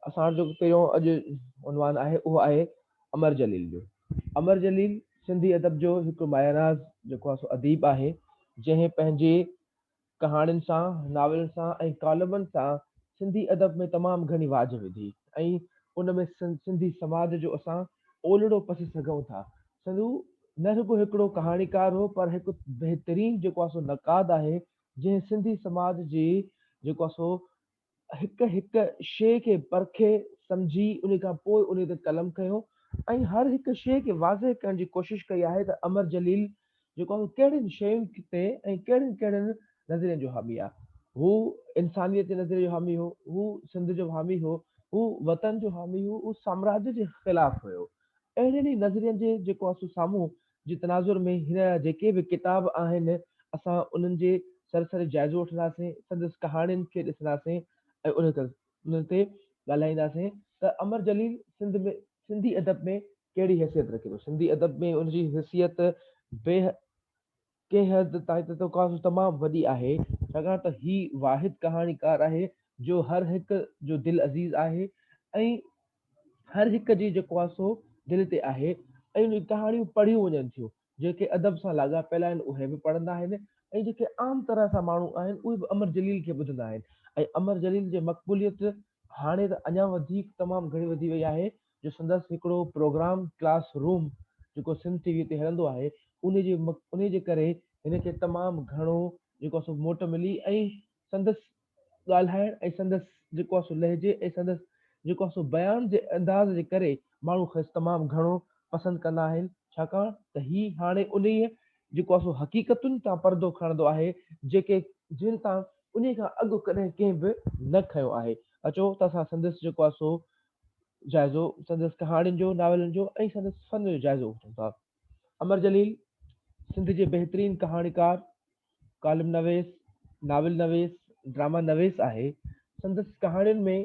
اسان جو پهريون اڄ عنوان آهي اهو آهي امر جليل جو امر جليل سنڌي ادب جو هڪ ماياناز جيڪو آهي سو اديب آهي جنهن پنهنجي ڪهاڻين سان ناولن سان ۽ ڪالمن سان سنڌي ادب ۾ تمام گهڻي واجهه وڌي ۽ ان ۾ سنڌي سماج جو اسان اولڙو پسي سگهون ٿا. سنڌو نه رڳو هڪڙو ڪهاڻيڪار هو پر هڪ بهترين جيڪو آهي سو نقاد آهي جنهن سنڌي سماج جي جيڪو آهي سو هڪ هڪ شيء کي پرکي سمجهي انهي کان پوء انهي تي قلم کنيو ۽ هر هڪ شيء کي واضح ڪرڻ جي ڪوشش ڪئي آهي ته امر جليل جيڪو اهو ڪهڙين شين تي ۽ ڪهڙين ڪهڙين نظرين جو حامي آ. هو انسانيت جي نظريي جو حامي هو، هو سنڌ جو حامي هو، هو وطن جو حامي هو، هو سامراج جي خلاف هيو. اهڙين ئي نظرين جي جيڪو اسو سامهون جي تناظر ۾ هن جا جيڪي به ڪتاب آهن اسان انهن جي سرسري جائزو وٺنداسين، سندس ڪهاڻين کي ڏسنداسين ۽ انهن انهن تي ڳالهائينداسين ته امر جليل سنڌ ۾ سنڌي ادب ۾ ڪهڙي حيثيت رکي ٿو. سنڌي ادب ۾ ان جي حيثيت بي ڪنهن حد تائين ته ڪا تمام وڏي آهي، ڇاڪاڻ ته هي واحد ڪهاڻيڪار آهي جو هر هڪ جو دل عزيز آهي ۽ هر هڪ جي جيڪو آهي سو دل تي آهي ۽ ان جون ڪهاڻيون پڙهيون وڃن ٿيون. جيڪي ادب سان لاڳاپيل آهن اهي به پڙهندا آهن ۽ جيڪي عام طرح سان ماڻهو آهن اهي به امر جليل کي ٻڌندا آهن ۽ امر جليل جي مقبوليت هاڻي ته اڃا وڌيڪ تمام گهڻي وڌي وئي آهي جو سندس هڪڙو پروگرام ڪلاس روم جيڪو سنڌ ٽي وي تي هلندو آهي انهي جي انهي جي ڪري هن کي تمام گهڻو جيڪو سو موٽ ملي ۽ سندس ڳالهائڻ ۽ سندس جيڪو آهي سو لهجي ۽ سندس جيڪو آهي سو بيان جي انداز جي ڪري ماڻهو کيس تمام گهڻو پسند ڪندا آهن ڇاڪاڻ ته هي هاڻي انهيء جيڪو آهي سو حقيقتن تان پردو کڻندو آهي جيڪي جن تان انهيء کان اڳ ڪڏهن ڪنهن به نه کنيو آهي اچو ته اسان سندس جيڪو آهي سو جائزو سندس ڪهاڻين جو ناولن جو ۽ سندس فن جو جائزو وٺون ٿا. امر جليل سنڌ جي بهترين ڪهاڻيڪار، ڪالم نويس، ناول نويس، ڊراما نويس آهي. سندس ڪهاڻين ۾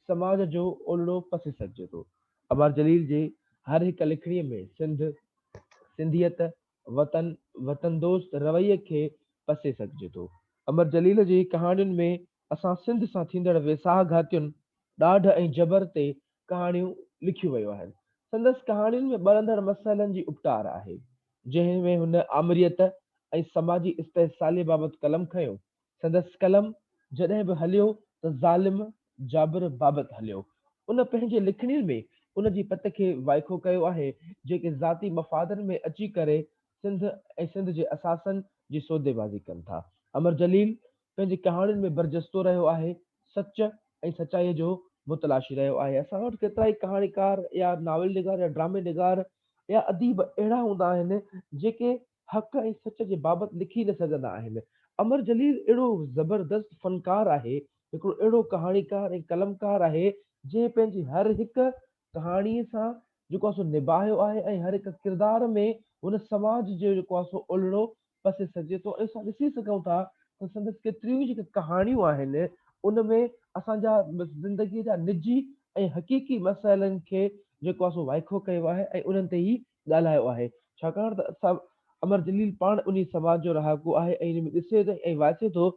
سماج جو اولڙو پسي سگهجي ٿو. امر جليل جي هر هڪ لکڻي ۾ سنڌ، سنڌيت، وطن، وطن دوست رويي کي پسي سگهجي ٿو. امر جليل جي ڪهاڻين ۾ اسان سنڌ سان ٿيندڙ ويساهه گهاتين، ڏاڍ ۽ جبر تي ڪهاڻيون لکيون ويون آهن. سندس ڪهاڻين ۾ ٻرندڙ مسئلن جي اپٽار آهي، جنهن ۾ هن آمريت ۽ سماجي استحصالي بابت قلم کنيو. سندس قلم جڏهن به هليو ته ظالم جابر بابت هليو. ان پنهنجي لکڻين ۾ ان جي پت کي وائکو ڪيو آهي، جيڪي ذاتي مفادن ۾ اچي ڪري سنڌ ۽ سنڌ جي اثاثن جي سوديبازي ڪن ٿا. امر جليل پنهنجي ڪهاڻين ۾ برجستو رهيو آهي، سچ ۽ سچائيء جو متلاشي رهيو آهي. اسان وٽ ڪيترائي ڪهاڻيڪار يا ناول نگار يا ڊرامي نگار يا اديب اهڙا هوندا آهن، جيڪي حق ۽ سچ جي بابت لکي نه سگهندا آهن. امر جليل اهڙو زبردست فنڪار آهي، هڪڙو اهڙو ڪهاڻيڪار ۽ قلمڪار آهي، جنهن پنهنجي هر هڪ ڪهاڻي سان جيڪو آهي سو نباهيو آهي ۽ هر هڪ ڪردار ۾ هن سماج جو جيڪو آهي سو الهڙو پسي سگهجي ٿو ۽ اسان ڏسي سگهون ٿا ته سندس ڪيتريون ئي جيڪي ڪهاڻيون آهن ان ۾ اسان جا زندگي جا نجي ۽ حقيقي مسئلن کي جيڪو آهي سو وائکو ڪيو آهي ۽ انهن تي هي ڳالهايو آهي ڇاڪاڻ ته اسان امر جليل پاڻ انهي سماج جو رهاڪو آهي ۽ ان ۾ ڏسي ٿو ۽ واسي ٿو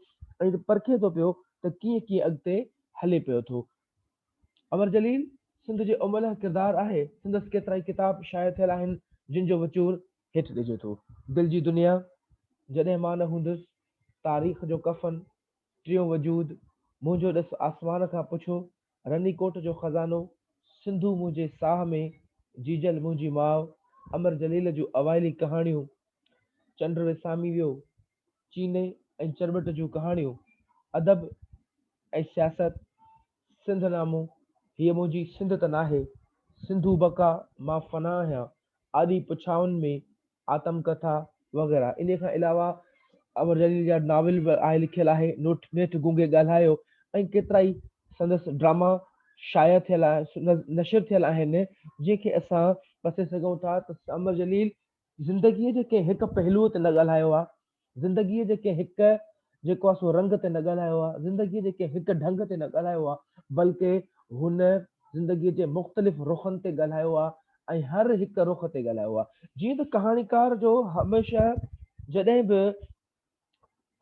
۽ پرکي ٿو پيو ته ڪيئن ڪيئن اڳتي هلي پيو ٿو امر جليل سنڌ جي املهه ڪردار آهي. سندس ڪيترائي ڪتاب شايع ٿيل آهن، جن جو وچور هيٺ ڏجي ٿو. دل جي دنيا، جڏهن مان نه هوندس، تاريخ جو ڪفن، ٽيون وجود، منهنجو ڏس آسمان کان پڇو، رني ڪوٽ جو خزانو، سنڌو منهنجي ساهه ۾، جيجل منهنجي ماء، امر جليل جون اوائلي ڪهاڻيون، چنڊ وسامي ويو، چيني ۽ چرٻٽ جون ڪهاڻيون، ادب ۽ سياست، سنڌ نامو، هيء منهنجي سنڌ ته ناهي، سنڌو بقا، مان فنا آهيان، آڏي پڇائن ۾، آتم ڪٿا وغيره. انهيء کان علاوه امر جليل جا ناول به آء لکيل آهي، نيٺ گونگي ڳالهايو ۽ ڪيترائي سندس ڊراما شايع ٿيل، نشر ٿيل آهن، جنهن کي اسان پسي سگهون ٿا ته امر جليل زندگيء جي ڪنهن هڪ پهلوء تي نه ڳالهايو آ، زندگيء جي ڪنهن هڪ جيڪو آ سو رنگ تي نه ڳالهايو آ، زندگيء جي ڪنهن هڪ ڍنگ تي نه ڳالهايو آ، بلڪ هن زندگيء جي مختلف رخن تي ڳالهايو آ ۽ هر هڪ رخ تي ڳالهايو آ. جيئن ته ڪهاڻيڪار جو هميشه جڏهن به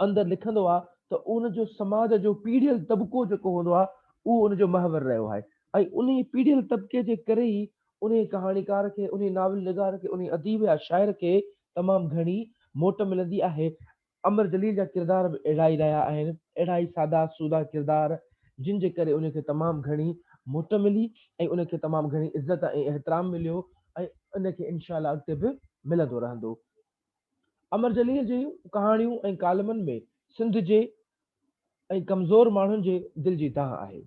اندر لکندو آهي ته ان جو سماج جو پيڙهيل طبقو جيڪو هوندو آهي اهو ان جو محور رهيو آهي ۽ انهي پيڙهيل طبقي جي ڪري ئي انهي ڪهاڻيڪار کي، انهي ناول نگار کي، انهي اديب يا شاعر کي تمام گهڻي موٽ ملندي آهي. امر جليل جا ڪردار به اهڙا ئي رهيا آهن، اهڙا ئي سادا سودا ڪردار جن جي ڪري انهي کي تمام گهڻي موٽ ملي ۽ انهي کي تمام گهڻي عزت ۽ احترام مليو ۽ انهي کي انشاء الله اڳتي به ملندو رهندو. امر جليل جي ڪهاڻيون ۽ ڪالمن ۾ سنڌ جي ۽ ڪمزور ماڻهن جي دل جي دانهن آهي.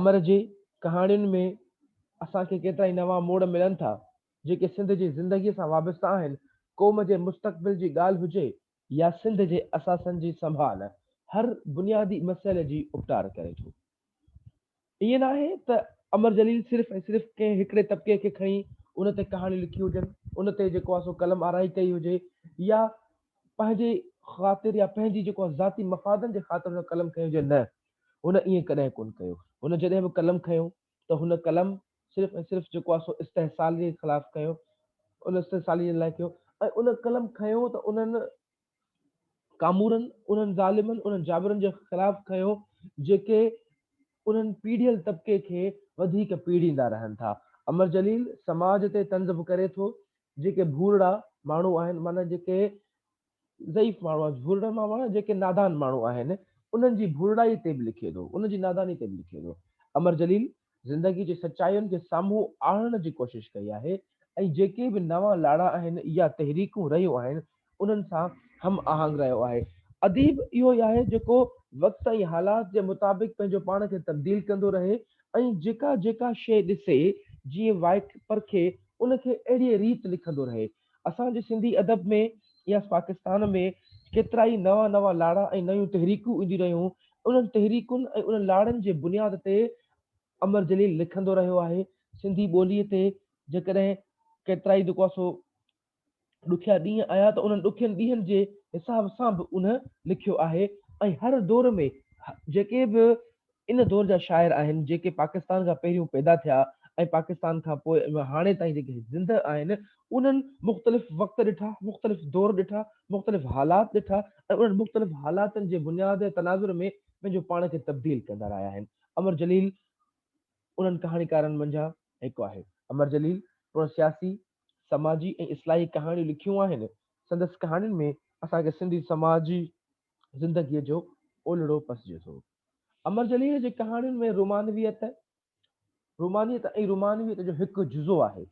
امر جي ڪهاڻين ۾ اسان کي ڪيترائي نوان موڙ ملن ٿا، جيڪي سنڌ جي زندگيء سان وابسته آهن، قوم جي مستقبل جي ڳالهه هجي يا سنڌ جي اثاثن جي سنڀال، هر بنيادي مسئلي جي اپٽار ڪري ٿو. ائين ناهي ته امر جليل صرف ۽ صرف ڪنهن هڪڙي طبقي کي کڻي ان تي ڪهاڻيون لکيون هجن، ان تي جيڪو آهي سو قلم آرائي ڪئي هجي يا پنهنجي خاطر يا پنهنجي جيڪو آهي ذاتي مفادن جي خاطر هن قلم کنيو هجي، نه هن ائين ڪڏهن ڪونه ڪيو، هن جڏهن به قلم کنيو ته هن قلم صرف ۽ صرف جيڪو آهي سو استحصالي خلاف کنيو، ان استحصالي لاء کنيو ۽ ان قلم کنيو ته انهن ڪامورن انهن ظالمن، انهن جابرن جي خلاف کنيو جيڪي انهن پيڙهيل طبقي کي وڌيڪ پيڙهيندا رهن ٿا. امر جليل سماج تي طنز به ڪري ٿو جيڪي ڀورڙا ماڻهو آهن معنيٰ جيڪي ضعيف ماڻهو آهن ڀورڙا معنيٰ جيڪي نادان ماڻهو آهن انهن جي ڀورڙائي تي به لکي ٿو انهن جي ناداني تي به لکي ٿو. امر جليل زندگي جي سچاين کي سامهون آڻڻ جي ڪوشش ڪئي آهي ۽ جيڪي به نوان لاڙا آهن يا تحريڪون رهيون آهن انهن سان هم آهنگ رهيو آهي. اديب اهو ئي آهي جيڪو وقت ۽ حالات جي مطابق پنهنجو پاڻ کي تبديل ڪندو رهي ۽ جيڪا جيڪا شيء ڏسي جيئن وائک پرکي ان کي اهڙيء ريت لکندو رهي اسان جي سنڌي ادب ۾ يا پاڪستان ۾ ڪيترائي نوان نوان لاڙا ۽ نيون تحريڪون اينديون رهيون، انهن تحريڪن ۽ انهن لاڙن جي بنياد تي امر جليل لکندو رهيو آهي، سنڌي ٻوليء تي جيڪڏهن ڪيترائي جيڪو آهي سو ڏکيا ڏينهن آيا ته انهن ڏکين ڏينهن جي حساب سان به انهن لکيو آهي ۽ هر دور ۾ جيڪي به ان دور جا شاعر آهن جيڪي پاڪستان کان پهريون پيدا ٿيا ۽ پاڪستان کان پوء ۽ هاڻي تائين جيڪي زندهه آهن انهن مختلف وقت ڏٺا، مختلف دور ڏٺا، مختلف حالات ڏٺا ۽ انهن مختلف حالاتن جي بنياد ۽ تناظر ۾ پنهنجو پاڻ کي تبديل ڪندا رهيا آهن. امر جليل انهن ڪهاڻيڪارن منجهان هڪ آهي. امر جليل پڻ سياسي، سماجي ۽ اصلاحي ڪهاڻيون لکيون آهن. سندس ڪهاڻين ۾ اسان کي سنڌي سماجي زندگيء جو اولڙو پسجي ٿو. امر جليل جي ڪهاڻين ۾ رومانويت، رومانيت ۽ رومانويت جو هڪ جزو آهي.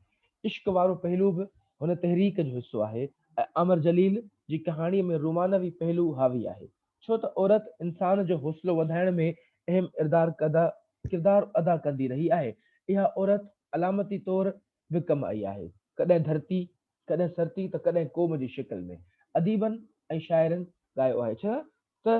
عشق وارو پهلو به هن تحريڪ جو حصو آهي ۽ امر جليل جي ڪهاڻيء ۾ رومانوي پهلو حاوي آهي. ڇو ته عورت انسان جو حوصلو وڌائڻ ۾ اهم ڪردار ادا ڪندي رهي آهي. اها عورت علامتي طور به ڪم آئي آهي. ڪڏهن ڌرتي، ڪڏهن سرتي ته ڪڏهن قوم جي شڪل ۾. اديبن ۽ شاعرن ڳايو آهي. ڇا ته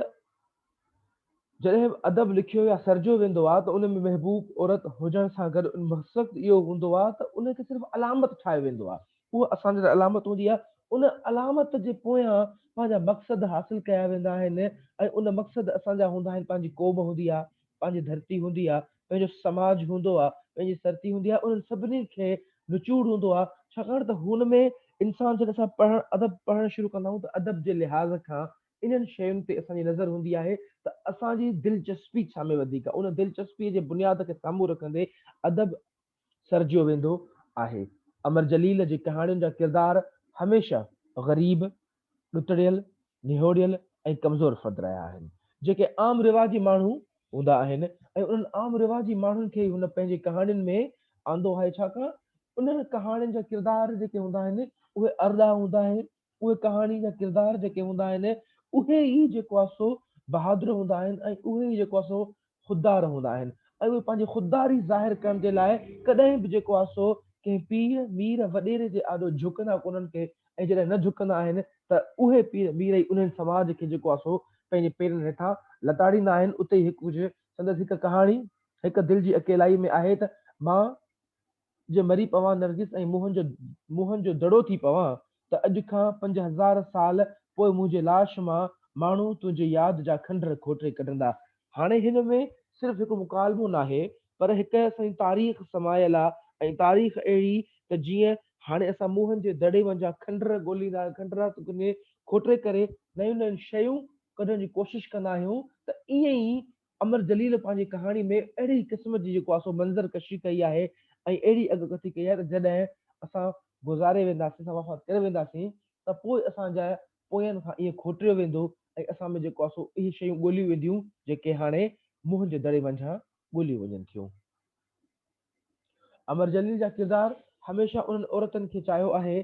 جڏهن به ادب لکيو يا سرجيو ويندو آهي ته ان ۾ محبوب عورت هجڻ سان گڏ ان مقصد اهو هوندو آهي ته ان کي صرف علامت ٺاهيو ويندو آهي اها اسان جي لاء علامت هوندي آهي ان علامت جي پويان پنهنجا مقصد حاصل ڪيا ويندا آهن ۽ ان مقصد اسان جا هوندا آهن پنهنجي قوم هوندي آهي پنهنجي ڌرتي هوندي آهي پنهنجو سماج هوندو آهي پنهنجي سرتي هوندي آهي انهن سڀني کي نچوڙ هوندو آهي ڇاڪاڻ ته هن ۾ انسان جڏهن اسان پڙهڻ ادب پڙهڻ شروع ڪندا آهيون ته ادب جي لحاظ کان انهن شين تي اسان جي نظر هوندي آهي ته اسان جي دلچسپي ڇا ۾ وڌيڪ آهي. ان دلچسپيء جي بنياد کي سامهون رکندي ادب سرجيو ويندو آهي. امر جليل جي ڪهاڻين جا ڪردار هميشه غريب، ڏتڙيل، نهوڙيل ۽ ڪمزور فرد رهيا آهن، جيڪي عام رواجي ماڻهو هوندا آهن ۽ انهن عام رواجي ماڻهن کي ئي هن پنهنجي ڪهاڻين ۾ آندو آهي، ڇاڪاڻ انهن ڪهاڻين جا ڪردار جيڪي هوندا آهن، اهي ارڏا هوندا آهن، اهي ڪهاڻي جا ڪردار جيڪي هوندا آهن، اهي ئي جيڪو آهي سو بهادر هوندا آهن ۽ اهي ئي جيڪو آهي سو خوددار هوندا آهن ۽ اهي پنهنجي خودداري ظاهر ڪرڻ جي لاء ڪڏهن به جيڪو آهي سو ڪنهن پير، مير، وڏيري جي آڏو جهڪندا ڪونهن ڪي ۽ جڏهن نه جهڪندا آهن ته اهي پير، مير ئي انهن سماج کي جيڪو آهي سو پنهنجي پيرن هيٺان لتاڙيندا آهن. اتي ئي هڪ ڪجهه سندس هڪ ڪهاڻي هڪ دل جي اڪيلائي ۾ آهي ته مان، جي مري پوان نرگس ۽ موهن جو موهن جو دڙو ٿي پوان ته اڄ کان پنج هزار سال پوء منهنجي لاش مان ماڻهو تنهنجي ياد جا کنڊر کوٽري ڪڍندا. هاڻي هن ۾ صرف هڪ مڪالمو ناهي پر هڪ سائين تاريخ سمايل آ ۽ تاريخ اهڙي ته جيئن هاڻي اسان موهن جي دڙي مان جا کنڊر ڳوليندا کنڊرا کوٽري ڪري نيون نيون شيون ڪڍڻ جي ڪوشش ڪندا آهيون ته ائين ئي امر جليل پنهنجي ڪهاڻي ۾ اهڙي ئي قسم جي جيڪو آهي سو منظر ڪشي ڪئي آهي ۽ اهڙي اڳڪٿي ڪئي آهي ته جڏهن اسان گذاري وينداسين، اسان وفات ڪري وينداسين ته پوء اسان جا پوين کان ائين کوٽيو ويندو ۽ اسان ۾ جيڪو آهي سو اهي شيون ڳوليون وينديون جيڪي هاڻي منهن جي دڙي منجهان ڳوليون وڃن ٿيون. امر جليل جا ڪردار هميشه انهن عورتن کي چاهيو آهي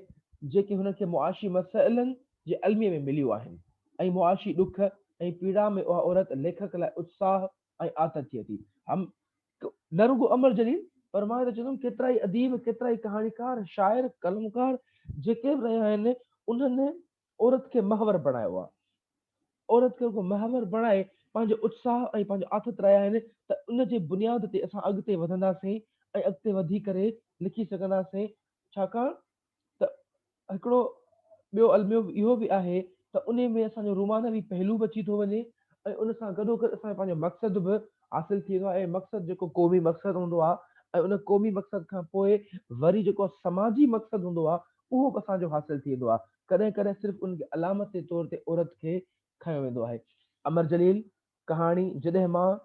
جيڪي هن کي معاشي مسئلن جي الميي ۾ مليون آهن ۽ معاشي ڏک ۽ پيڙا ۾ اها عورت ليکڪ لاء اتساهه ۽ آٿت ٿئي ٿي. هم نه رڳو امر جليل پر مان ته چوندم ڪيترائي اديب، ڪيترائي ڪهاڻيڪار، شاعر، قلمڪار جيڪي به رهيا آهن انهن عورت کي محور بڻايو آهي. عورت کي رڳو محور بڻائي پنهنجو اتساهه ۽ پنهنجو آٿت رهيا آهن ته ان جي بنياد تي اسان اڳتي وڌنداسين ۽ اڳتي وڌي ڪري لکي سگهنداسين ڇاڪاڻ ته هڪڙو ٻيو الميو اهو به آهي ته ان ۾ اسان جو رومانوي پهلو به اچي ٿو وڃي ۽ ان سان گڏو گڏ اسان جو پنهنجو مقصد به حاصل ٿي ويندو آهي مقصد جيڪو قومي مقصد هوندو آهي ۽ ان قومي مقصد کان پوء وري جيڪو سماجي مقصد هوندو آهي اهو به اسان جو حاصل ٿي ويندو آهي. ڪڏهن ڪڏهن صرف ان کي علامت جي طور تي عورت کي کنيو ويندو آهي. امر جليل، ڪهاڻي، جڏهن مان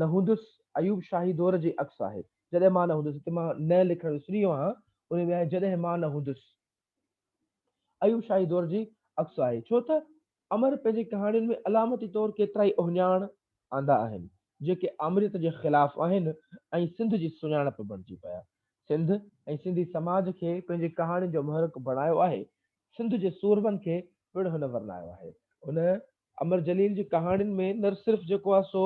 نه هوندس، ايوب شاهي دور جي عڪس آهي. جڏهن مان نه هوندس، هتي مان نه لکڻ وسري ويو آهيان، ان ۾ آهي جڏهن مان نه هوندس. ايوب شاهي دور جي عڪس آهي، ڇو ته امر پنهنجي ڪهاڻين ۾ علامتي طور ڪيترائي اهڃاڻ آندا آهن، جيڪي آمريت جي خلاف آهن ۽ سنڌ جي سڃاڻپ بڻجي پيا. سنڌ ۽ سنڌي سماج کي پنهنجي ڪهاڻين جو محرڪ بڻايو آهي. سنڌ جي سورمن کي پڻ هن ورنايو آهي. هن امر جليل جي ڪهاڻين ۾ نه صرف جيڪو آهي سو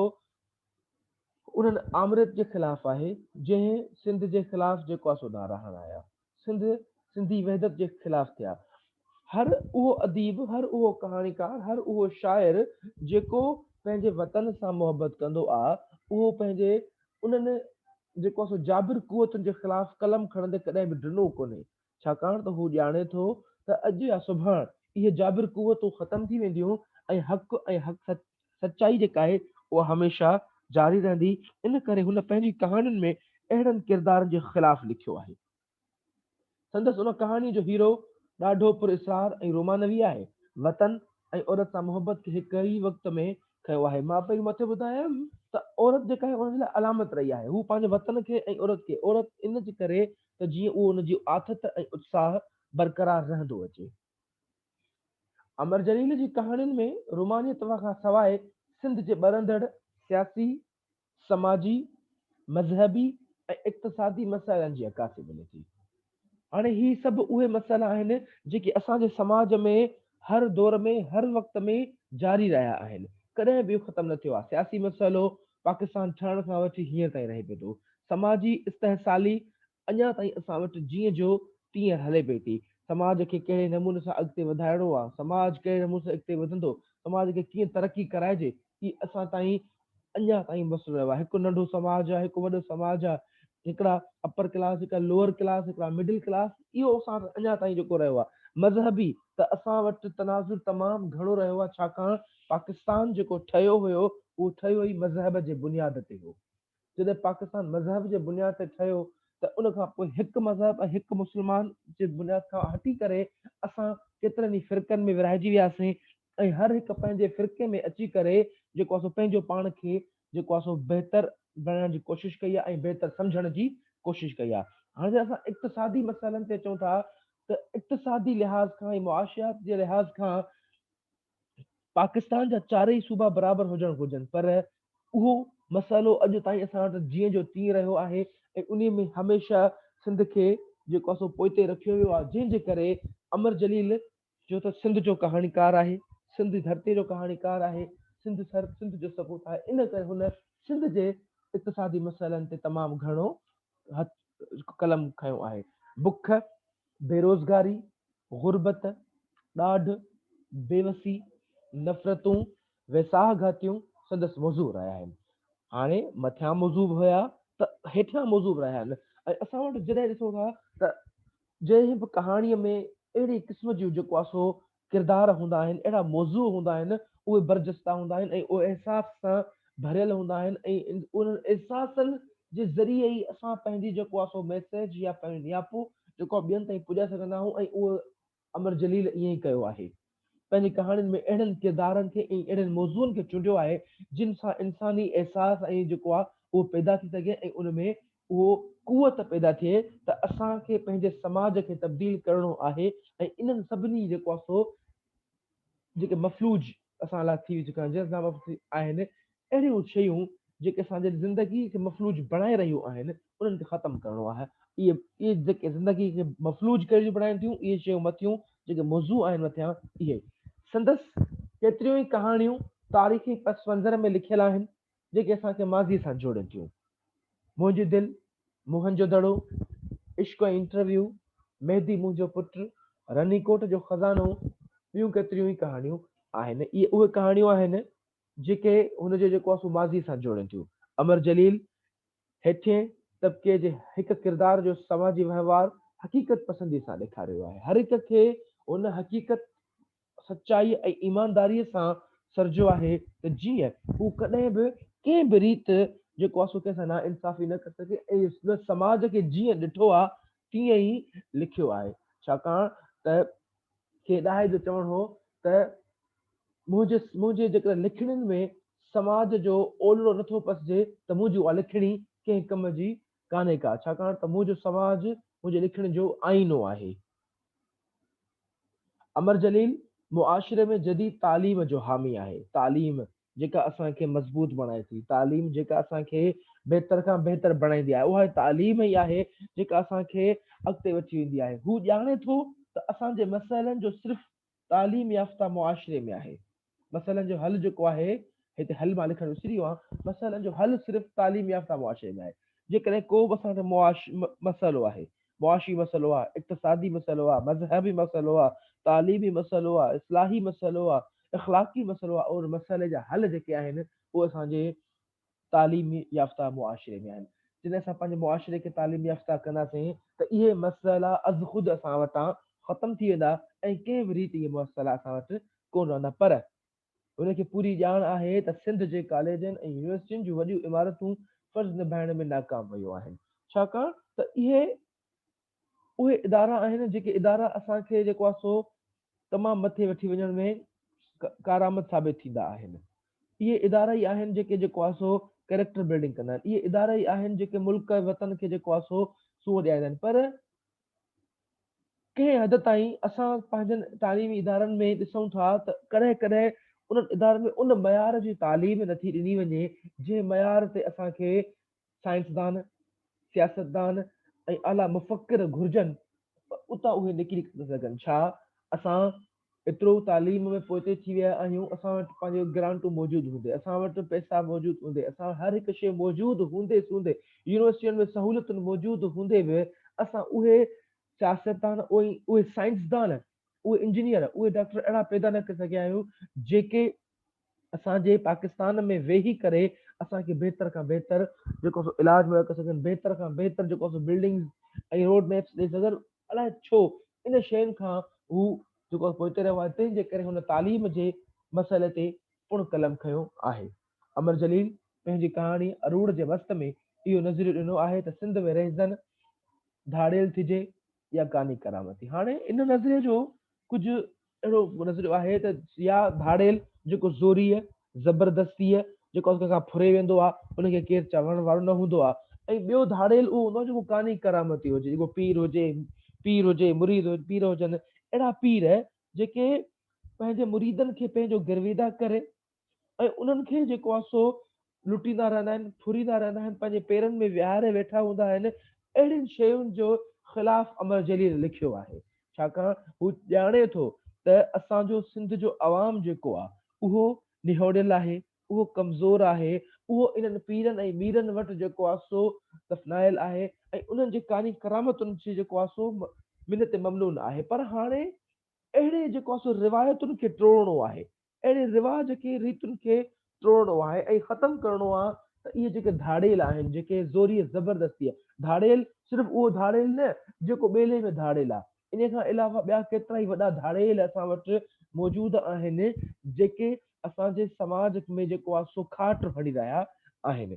انهن آمريت جي خلاف آهي، جنهن سنڌ جي خلاف جيڪو آهي سو نعرا هڻايا. سنڌ سنڌي وحدت جي خلاف ٿيا. هر اهو اديب، هر اهو ڪهاڻيڪار، هر اهو شاعر جيڪو پنهنجي وطن سان محبت ڪندو آ، اهو پنهنجي انهن جيڪو آ سو جابر قوتن جي خلاف قلم کڻندي ڪڏهن به ڊنو ڪونهي، ڇاڪاڻ ته هو ڄاڻي ٿو ته اڄ يا سڀاڻ اهي جابر قوتون ختم ٿي وينديون ۽ حق ۽ حق سچ سچائي جيڪا آهي اها هميشه جاري رهندي ان ڪري هن پنهنجي ڪهاڻين ۾ اهڙن ڪردارن جي خلاف لکيو آهي. سندس ان ڪهاڻي جو هيرو ڏاڍو پر اسرار ۽ رومانوي آهي. وطن ۽ عورت سان محبت کي هڪ ئي وقت ۾ کنيو آهي. مان پهرين مٿي ٻڌايم ته عورت جيڪا آهي ان جي لاء علامت رهي آهي. هو پنهنجي وطن کي ۽ عورت کي عورت ان جي ڪري ته جيئن اهو ان جي آٿت ۽ اتساهه برقرار رهندو اچي. امر جليل جي ڪهاڻين ۾ رومانيت کان سواء سنڌ جي ٻرندڙ سياسي، سماجي، مذهبي ۽ اقتصادي مسئلن جي عڪاسي ملي ٿي. هاڻي هي سڀ اهي مسئلا آهن جيڪي اسان جي سماج ۾ هر دور ۾ هر وقت ۾ جاري رهيا آهن ڪڏهن به اهو ختم نه ٿيو آهي سياسي مسئلو پاڪستان ٺهڻ کان وٺي هينئر تائين رهي پيو ٿو سماجي استحصالي اڃا تائين اسان وٽ جيئن جو تيئن هلي پئي ٿي. سماج کي ڪهڙي نموني سان اڳتي وڌائڻو آهي، سماج ڪهڙي نموني سان اڳتي وڌندو، سماج کي ڪيئن ترقي ڪرائجي، هي اسان تائين اڃا تائين مسئلو رهيو آهي. هڪ ننڍو سماج آهي، هڪ وڏو سماج آهي، هڪڙا اپر ڪلاس، هڪڙا لوئر ڪلاس، هڪڙا مڊل ڪلاس، اهو اسان وٽ اڃا تائين جيڪو رهيو آهي. مذهبي ته اسان وٽ تناظر تمام گهڻو رهيو آهي، ڇاڪاڻ پاڪستان جيڪو ٺهيو هيو، اهو ٺهيو ئي مذهب جي بنياد تي هو. جڏهن پاڪستان مذهب جي بنياد تي ٺهيو ته ان کان پوء هڪ مذهب ۽ هڪ مسلمان جي بنياد کان هٽي ڪري اسان ڪيترن ئي فرقن ۾ ورهائجي وياسين ۽ هر هڪ پنهنجي فرقي ۾ اچي ڪري جيڪو اسو پنهنجو پاڻ کي جيڪو اسو بهتر بڻائڻ جي ڪوشش ڪئي آهي ۽ بهتر سمجهڻ جي ڪوشش ڪئي آهي. هاڻي جڏهن اسان اقتصادي مسئلن تي اچون ٿا ته اقتصادي لحاظ کان ۽ معاشيات جي لحاظ کان پاڪستان جا چارئي صوبا برابر هجڻ گهرجن پر اهو مسئلو اڄ تائين اسان وٽ جيئن جو تيئن رهيو آهي ۽ انهي ۾ هميشه سنڌ کي جيڪو آهي سو پوئتي رکيو ويو آهي جنهن جي ڪري امر جليل جو ته سنڌ جو ڪهاڻيڪار آهي سنڌ ڌرتي جو ڪهاڻيڪار آهي سنڌ سر سنڌ جو سپوت آهي ان ڪري هن سنڌ جي اقتصادي مسئلن تي تمام گهڻو هٿ قلم کنيو آهي بک بيروزگاري، غربت، ڏاڍ، بيوسي، نفرتون، ويساهه گهاتيون سندس موضوع رهيا آهن. هاڻي مٿيان موضوع به هيا ته هيٺيان موضوع به رهيا آهن ۽ اسان وٽ جڏهن ڏسون ٿا ته جنهن به ڪهاڻيء ۾ اهڙي قسم جون جيڪو آهي سو ڪردار هوندا آهن، اهڙا موضوع هوندا آهن، اهي برجستا هوندا آهن ۽ اهي احساس سان ڀريل هوندا آهن ۽ انهن احساسن جي ذريعي ئي اسان پنهنجي جيڪو آهي سو ميسيج يا پنهنجو نياپو جيڪو آهي ٻين تائين پڄائي سگهندا آهيون ۽ اهو امر جليل ائين ئي ڪيو آهي. پنهنجي ڪهاڻين ۾ اهڙن ڪردارن کي ۽ اهڙن موضوعن کي چونڊيو آهي جن سان انساني احساس ۽ جيڪو آهي اهو پيدا ٿي سگهي ۽ ان ۾ اهو قوت پيدا ٿئي ته اسان کي پنهنجي سماج کي تبديل ڪرڻو آهي ۽ انهن سڀني جيڪو آهي سو جيڪي مفلوج اسان لاء ٿي چڪا آهن جنهن سبب آهن اهڙيون شيون جيڪي اسان جي زندگي کي مفلوج بڻائي رهيون آهن انهن کي ختم ڪرڻو آهي اهي اهي جيڪي زندگي کي مفلوج ڪري رهيون بڻائين ٿيون اهي شيون مٿيون جيڪي موضوع آهن مٿيان اهي سندس ڪيتريون ئي ڪهاڻيون تاريخي پس منظر ۾ لکيل آهن جيڪي اسان کي ماضي سان جوڙين ٿيون. منهنجي دل، موهن جو دڙو، عشق ۽ انٽرويو، مهدي منهنجو پٽ، رني ڪوٽ جو خزانو ٻيون ڪيتريون ئي ڪهاڻيون آهن. اهي اهي ڪهاڻيون آهن جيڪي هن جو جيڪو آسو ماضي سان جوڙين ٿيون. امر جليل هيٺين طبقي جي هڪ ڪردار جو سماجي وهنوار حقيقت پسندي سان ڏيکاريو آهي. هر هڪ کي ان حقيقت سچائيء ۽ ايمانداريء سان سرجيو آهي ته جيئن هو ڪڏهن به ڪنهن به ريت جيڪو آهي سو ڪنهن سان ناانصافي نه ڪري سگهي ۽ هن سماج کي جيئن ڏٺو آهي تيئن ئي لکيو آهي ڇاڪاڻ ته ڪنهن ڏاهي جو چوڻ هو ته منهنجي منهنجي جيڪڏهن لکڻين ۾ سماج جو اولڙو نٿو پسجي ته منهنجي اها لکڻي ڪنهن ڪم جي ڪانهي ڪا ڇاڪاڻ ته منهنجو سماج منهنجي لکڻين جو آئينو آهي امر جليل معاشري ۾ جديد تعليم جو حامي آهي، تعليم جيڪا اسان کي مضبوط بڻائي ٿي، تعليم جيڪا اسان کي بهتر کان بهتر بڻائيندي آهي، اها تعليم ئي آهي جيڪا اسان کي اڳتي وٺي ويندي آهي، هو ڄاڻي ٿو ته اسان جي مسئلن جو صرف تعليم يافته معاشري ۾ آهي. مسئلن جو حل جيڪو آهي، هتي حل مان لکڻ وسري ويو آهيان، مسئلن جو حل صرف تعليم يافته معاشري ۾ آهي. جيڪڏهن ڪو به اسان کي معاشي مسئلو آهي، معاشي مسئلو آهي، اقتصادي مسئلو آهي، مذهبي مسئلو آهي، تعليمي مسئلو آهي، اصلاحي مسئلو آهي، اخلاقي مسئلو آهي، ان مسئلي جا حل جيڪي آهن، اهي اسان جي تعليم يافته معاشري ۾ آهن. جڏهن اسان پنهنجي معاشري کي تعليم يافته ڪنداسين ته اهي مسئلا ازخود اسان وٽان ختم ٿي ويندا ۽ ڪنهن به ريت اهي مسئلا اسان وٽ ڪونه رهندا پر هن کي پوري ڄاڻ آهي ته سنڌ جي ڪاليجن ۽ يونيورسٽين جون وڏيون عمارتون فرض نڀائڻ ۾ ناڪام ويون آهن ڇاڪاڻ ته اهي اهي ادارا آهن جيڪي ادارا اسان کي جيڪو آهي سو تمام مٿي وٺي وڃڻ ۾ ڪارآمد ثابت ٿيندا آهن اهي ادارا ئي آهن جيڪي جيڪو آهي سو ڪريڪٽر بلڊنگ ڪندا آهن اهي ادارا ئي آهن جيڪي ملڪ ۽ وطن کي جيڪو آهي سو سونهن ڏياريندا آهن پر ڪنهن حد تائين اسان پنهنجن تعليمي ادارن ۾ ڏسون ٿا ته ڪڏهن ڪڏهن انهن ادارن ۾ ان معيار جي تعليم نٿي ڏني وڃي جنهن معيار تي اسان کي سائنسدان، سياستدان ۽ اعليٰ مفڪر گهرجن ته اتان اهي نڪري ته سگهن. ڇا اسان ايترو تعليم ۾ پوئتي ٿي ويا آهيون؟ اسان وٽ پنهنجيون گرانٽون موجود هوندي، اسان وٽ پئسا موجود هوندي، اسان هر هڪ شيء موجود هوندي سوندي، يونيورسٽين ۾ سهولتون موجود هوندي به اسان اهي سياستدان، اهي سائنسدان، اهي انجنيئر، اهي ڊاڪٽر اهڙا پيدا نه ڪري سگهيا آهيون جيڪي اسان جي پاڪستان ۾ ويهي ڪري اسان کي بهتر کان بهتر جيڪو سو علاج مهيا ڪري سگهن بهتر کان بهتر جيڪو سو بلڊنگز ۽ روڊ ميپس ڏئي سگهن الاء ڇو ان شين کان هو جيڪو پوئتي رهيو آهي تنهن جي ڪري هن تعليم جي مسئلي تي پڻ قلم کنيو آهي امر جليل پنهنجي ڪهاڻي اروڙ جي وسط ۾ اهو نظريو ڏنو آهي ته سنڌ ۾ رهزن ڌاڙيل ٿجي يا ڪاني ڪرامتي هاڻي ان نظريي جو ڪجهه اهڙو نظريو آهي ته يا ڌاڙيل جيڪو زوريء، زبردستيء، جيڪو اک کان ڦري ويندو آهي، ان کي ڪير چوڻ وارو نه هوندو آهي ۽ ٻيو ڌاڙيل اهو هوندو آهي جيڪو قاني ڪرامتي هجي، جيڪو پير هجي، پير هجي، مريد هجي، پير هجن، اهڙا پير جيڪي پنهنجي مريدن کي پنهنجو گرويده ڪري، ۽ انهن کي جيڪو آهي سو لٽيندا رهندا آهن، ڦريندا رهندا آهن، پنهنجي پيرن ۾ ويهاري ويٺا هوندا آهن، اهڙين شين جو خلاف امر جليل لکيو آهي، ڇاڪاڻ هو ڄاڻي ٿو ته اسان جو سنڌ جو عوام جيڪو آهي اهو نهوڙيل آهي، اهو ڪمزور آهي، اهو انهن پيرن ۽ ميرن وٽ جيڪو آهي سو دفنايل آهي ۽ انهن جي ڪاني ڪرامتن جي جيڪو آهي سو منت ممنون آهي، پر هاڻي اهڙي جيڪو آهي سو روايتن کي ٽوڙڻو آهي، اهڙي رواج کي، ريتن کي ٽوڙڻو آهي ۽ ختم ڪرڻو آهي ته اهي جيڪي ڌاڙيل آهن، جيڪي زوريء زبردستيء ڌاڙيل، صرف اهو ڌاڙيل نه، جيڪو ٻيلي ۾ ڌاڙيل آهي، انهيء کان علاوه ٻيا ڪيترائي وڏا ڌاڙيل اسان وٽ موجود آهن، جيڪي اسان جي سماج ۾ جيڪو آهي سو کاٽ هڻي رهيا آهن.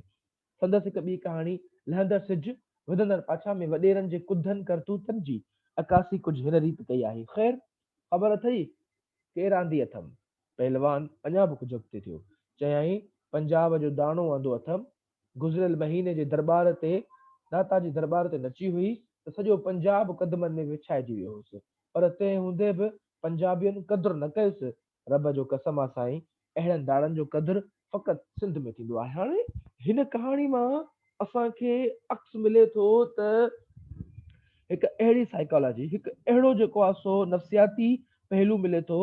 سندس هڪ ٻي ڪهاڻي لهندڙ سج، وڌندڙ پاڇا ۾ وڏيرن جي ڪڌن ڪرتوتن جي عڪاسي ڪجهه هن ريت ڪئي آهي، خير! خبر اٿئي ڪير آندي اٿم؟ پهلوان اڃا به ڪجهه اڳتي ٿيو. چيائين، پنجاب جو داڻو آندو اٿم. گذريل مهيني جي درٻار تي، داتا جي درٻار تي نچي هئي ته سڄو پنجاب قدمن ۾ وڇائجي ويو هوس، پر تنهن هوندي به پنجابين قدر نه ڪيس، رب جو قسم آ سائين اهڙن داڙن جو قدر فقط سنڌ ۾ ٿيندو آهي. هاڻي هن ڪهاڻي مان اسان کي عڪس ملي ٿو ته هڪ اهڙي سائيڪالاجي هڪ اهڙو جيڪو آ سو نفسياتي پهلو ملي ٿو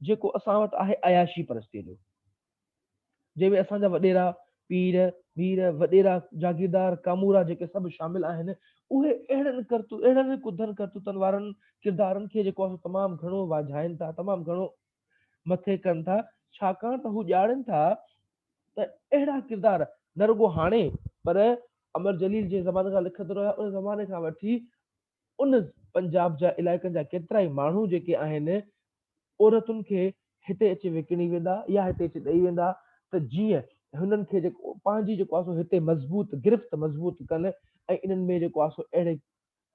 جيڪو اسان وٽ آهي عياشي پرستيء جو. جنهن ۾ اسان جا وڏيرا، پير، مير، وڏيرا، جاگيردار، ڪامورا جيڪي سڀ شامل آهن، اهي اهڙن ڪرتو، اهڙن ئي ڪڌن ڪرتوتن وارن ڪردارن کي جيڪو اسان تمام گهڻو واجهائين ٿا، تمام گهڻو مٿي ڪن ٿا، ڇاڪاڻ ته هو ڄاڻين ٿا ته اهڙا ڪردار نه رڳو هاڻي پر امر جليل جنهن زماني کان لکندو رهيو آهي، ان زماني کان وٺي ان پنجاب جا علائقن جا ڪيترائي ماڻهو جيڪي آهن عورتن کي هتي اچي وڪڻي ويندا يا هتي اچي ڏئي ويندا ته جيئن هنن کي جيڪو پنهنجي جيڪو آهي سو هتي مضبوط گرفت مضبوط ڪن ۽ انهن ۾ جيڪو آهي سو اهڙي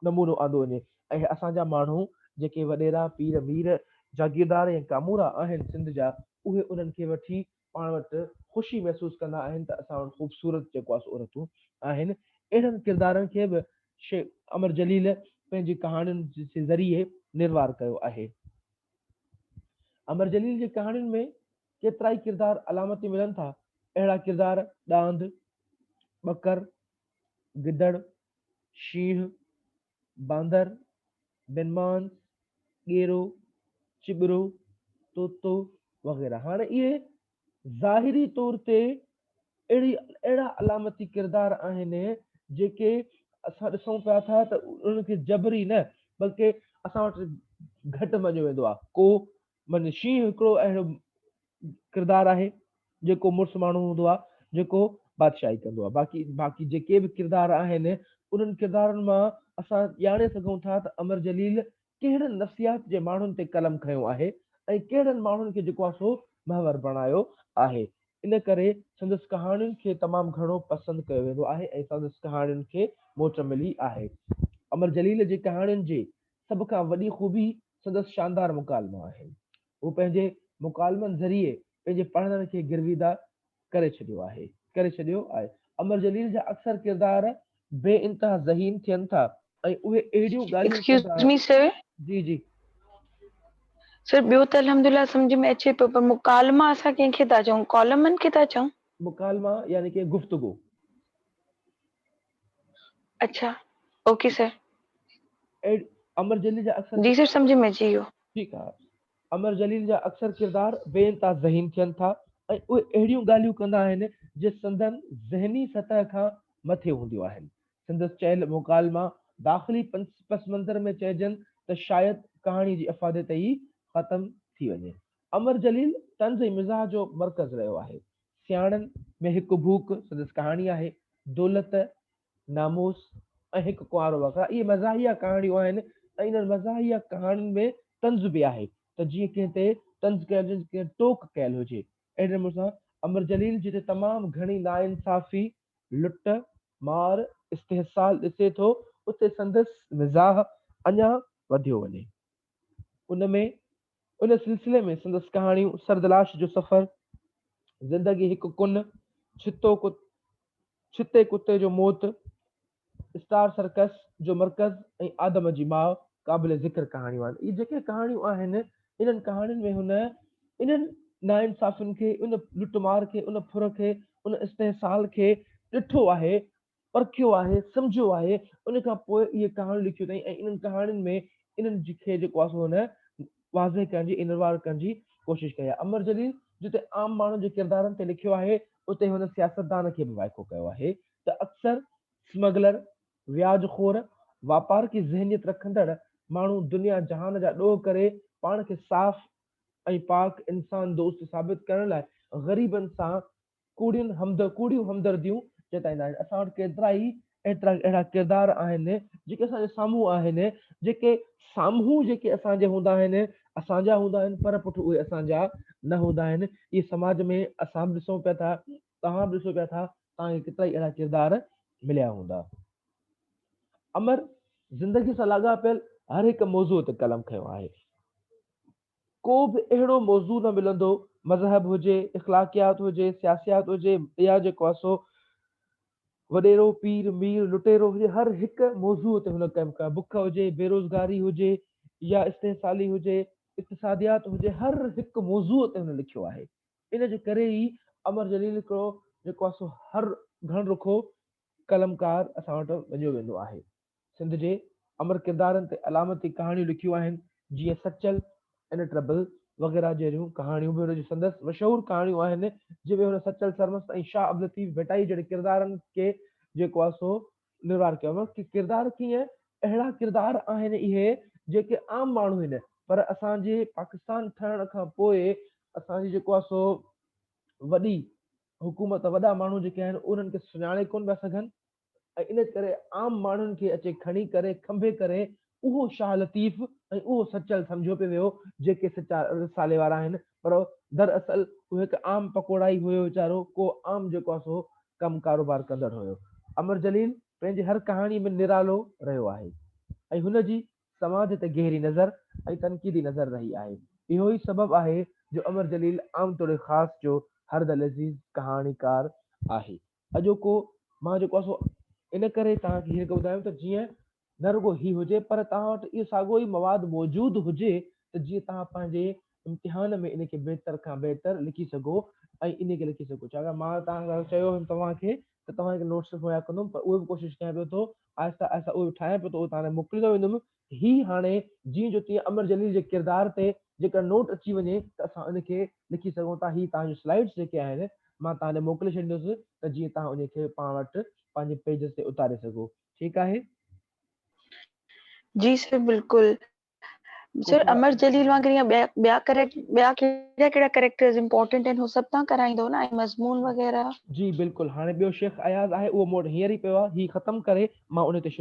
نمونو آندو وڃي ۽ اسان جا ماڻهو جيڪي وڏيرا پير مير جاگيردار ۽ ڪامورا آهن سنڌ جا اهي انهن کي وٺي پاڻ وٽ خوشي محسوس ڪندا آهن ته اسان وٽ خوبصورت جيڪو آهي سو عورتون آهن. اهڙن ڪردارن کي به شيخ امر جليل پنهنجي ڪهاڻين جي ذريعي نروار ڪيو آهي. امر جليل جي ڪهاڻين ۾ ڪيترائي ڪردار علامتي ملن ٿا. اهڙا ڪردار ڏاند، ٻڪر، گدڙ، شينهن، باندر، بنمانس، ڳيرو، چٻرو، طوطو وغيره. هاڻي اهي ظاهري طور تي اهڙي اهڙا علامتي ڪردار آهن جيڪي اسان ڏسون پيا ٿا ته انهن کي جبري نه بلڪه اسان وٽ گهٽ مڃيو ويندو آهي ڪو من شينهن هڪڙو اهڙو ڪردار آهي جيڪو مڙس ماڻهو هوندو آهي جيڪو بادشاهي ڪندو آهي باقي باقي جيڪي به ڪردار آهن انهن ڪردارن مان اسان ڄاڻي سگهون ٿا ته امر جليل ڪهڙن نفسيات جي ماڻهن تي قلم کنيو آهي ۽ ڪهڙن ماڻهن کي جيڪو آهي سو محور بڻايو آهي ان ڪري سندس ڪهاڻين کي تمام گهڻو پسند ڪيو ويندو آهي ۽ سندس ڪهاڻين کي موٽ ملي آهي امر جليل جي ڪهاڻين جي سڀ کان وڏي خوبي سندس شاندار مڪالما آهن. هو پنهنجي مڪالمن ذريعي پنهنجي پڙهندڙن کي گرويده ڪري ڇڏيو آهي. ڪري ڇڏيو آهي. امر جليل جا اڪثر ڪردار بي انتها ذهين ٿين ٿا ۽ اهي اهڙيون ڳالهيون ڪندا Excuse me sir. جي جي. سر ٻيو ته الحمدلله سمجهه ۾ اچي پيو پر مڪالما اسان ڪنهن کي ٿا چئون ڪالمن کي ٿا چئون؟ مڪالما يعني ڪي گفتگو. اڇا اوڪي سر. ايڊ امر جليل جا اڪثر جي سر سمجهه ۾ اچي ويو. ٺيڪ آ. امر جليل جا اڪثر ڪردار بي انتها ذهين ٿين ٿا ۽ اهي اهڙيون ڳالهيون ڪندا آهن جي سندن ذهني سطح کان مٿي هونديون آهن. سندس چيل مڪالما داخلي پس منظر ۾ چئجن ته شايد ڪهاڻي جي افادي تي ئي ختم ٿي وڃي. امر جليل طنز ۽ مزاح جو مرڪز رهيو آهي. سياڻن ۾ هڪ ڀوڪ سندس ڪهاڻي آهي، دولت، ناموس ۽ هڪ ڪنوارو وغيره اهي مزاحيه ڪهاڻيون آهن ۽ انهن مزاحيه ڪهاڻين ۾ طنز به آهي ته جيئن ڪنهن تي طنز ڪيل هجي ڪنهن ٽوڪ ڪيل هجي. اهڙي نموني سان امر جليل جتي تمام گهڻي ناانصافي، لٽ مار، استحصال ڏسي ٿو اتي سندس مزاح اڃا وڌيو وڃي. ان ۾ ان سلسلي ۾ سندس ڪهاڻيون سردلاش جو سفر، زندگي هڪ ڪن، ڇتو ڪت، ڇتي ڪتي جو موت، اسٽار سرڪس جو مرڪز ۽ آدم جي ماء قابل ذڪر ڪهاڻيون آهن. اهي جيڪي ڪهاڻيون آهن، انهن ڪهاڻين ۾ هن انهن ناانصافين کي، ان لٽمار کي، ان ڦر کي، ان استحصال کي ڏٺو آهي پرکيو آهي، سمجهيو آهي، ان کان پوء اهي ڪهاڻيون لکيون اٿائين ۽ انهن ڪهاڻين ۾ انهن جي کي جيڪو آهي سو هن واضح ڪرڻ جي انروار ڪرڻ جي ڪوشش ڪئي آهي. امر جليل جتي عام ماڻهن جي ڪردارن تي لکيو آهي اتي هن سياستدان کي به وائکو ڪيو آهي ته اڪثر سمگلر، وياج خور، واپارڪي ذهنيت رکندڙ ماڻهو دنيا جهان جا ڏوهه ڪري پاڻ کي صاف ۽ پاڪ انسان دوست ثابت ڪرڻ لاء غريبن سان ڪوڙين همد ڪوڙيون همدرديون جتائيندا آهن اسان وٽ ڪيترائي ايترا اهڙا ڪردار آهن جيڪي اسان جي سامهون آهن جيڪي سامهون جيڪي اسان جي هوندا آهن اسان جا هوندا آهن پر پٺ اهي اسان جا نه هوندا آهن اهي سماج ۾ اسان به ڏسون پيا ٿا توهان به ڏسو پيا ٿا توهان کي ڪيترائي اهڙا ڪردار مليا هوندا امر زندگي سان لاڳاپيل هر هڪ موضوع تي قلم کنيو آهي ڪو به اهڙو موضوع نه ملندو، مذهب هجي، اخلاقيات هجي، سياسيات هجي يا جيڪو آهي سو وڏيرو، پير، مير، لٽيرو هجي، هر هڪ موضوع تي هن ڪم ڪيو آهي، بک هجي، بيروزگاري هجي يا استحصالي هجي، اقتصاديات هجي، هر هڪ موضوع تي هن لکيو آهي. ان جي ڪري ئي امر جليل هڪڙو جيڪو آهي سو هر گهڻ رخو قلمڪار اسان وٽ مڃيو ويندو آهي. سنڌ جي امر ڪردارن تي علامتي ڪهاڻيون لکيون آهن، جيئن سچل، ان ٽربل وغيره جهڙيون ڪهاڻيون به هن جون سندس مشهور ڪهاڻيون آهن، جن ۾ هن سچل سرمست ۽ شاهه عبداللطيف ڀٽائي جهڙي ڪردارن کي جيڪو آهي سو نروار ڪيو آهي ڪي ڪردار ڪيئن اهڙا ڪردار آهن اهي جيڪي عام ماڻهو هن پر اسان جي پاڪستان ٺهڻ کان پوء اسان جي جيڪو آهي سو وڏي حڪومت وڏا ماڻهو جيڪي آهن انهن کي سڃاڻي ڪونه پيا سگهن، ۽ ان ڪري عام ماڻهن کي اچي کڻي ڪري کنڀي ڪري اهو شاهه لطيف ۽ اهو سچل سمجهيو پيو ويو جيڪي سچا رسالي وارا آهن پر در اصل اهو هڪ عام پڪوڙائي هيو ويچارو ڪو عام جيڪو آهي سو ڪم ڪاروبار ڪندڙ هيو. امر جليل پنهنجي هر ڪهاڻي ۾ نرالو رهيو آهي ۽ هن جي سماج تي گهري نظر ۽ تنقيدي نظر رهي آهي اهو ئي سبب آهي جو امر جليل عام توڙي خاص جو هر دلعزيز ڪهاڻيڪار آهي. اڄوڪو مان جيڪو آهي سو ان ڪري توهان کي هينئر ڪري ٻڌايم ته جيئن نه رڳو هي هجي پر توهان وٽ اهو ساڳيو ئي مواد موجود هجي ته جيئن توهان پنهنجي امتحان ۾ ان کي بهتر کان بهتر لکي سگهو ۽ ان کي لکي سگهو ڇاڪاڻ مان توهان کي چيو هيم توهان کي ته توهان کي نوٽس مهيا ڪندم پر اهو به ڪوشش ڪيان پيو ٿو آهستي آهستي اهو ٺاهيان پيو ٿو اهو توهان ڏانهن موڪليندو ويندم هي هاڻي جيئن جو تيئن امر جليل جي ڪردار تي جيڪر نوٽ اچي وڃي ته اسان ان کي لکي سگهون ٿا. هي توهان جون سلائيڊس جيڪي آهن مان توهان ڏي موڪلي ڇڏيندس ته جيئن توهان انهي کي پاڻ وٽ پنهنجي پيجز تي اتاري سگهو. ٺيڪ آهي. جي سر بلڪل. سر امر جليل وانگر يا ٻيا ٻيا ڪريڪٽ ٻيا ڪهڙا ڪهڙا ڪريڪٽرز امپورٽنٽ آهن هو سڀ توهان ڪرائيندو نه ۽ مضمون وغيره. جي بلڪل هاڻي ٻيو شيخ اياز آهي اهو مون وٽ هينئر ئي پيو آهي هي ختم ڪري مان انهي تي شروع.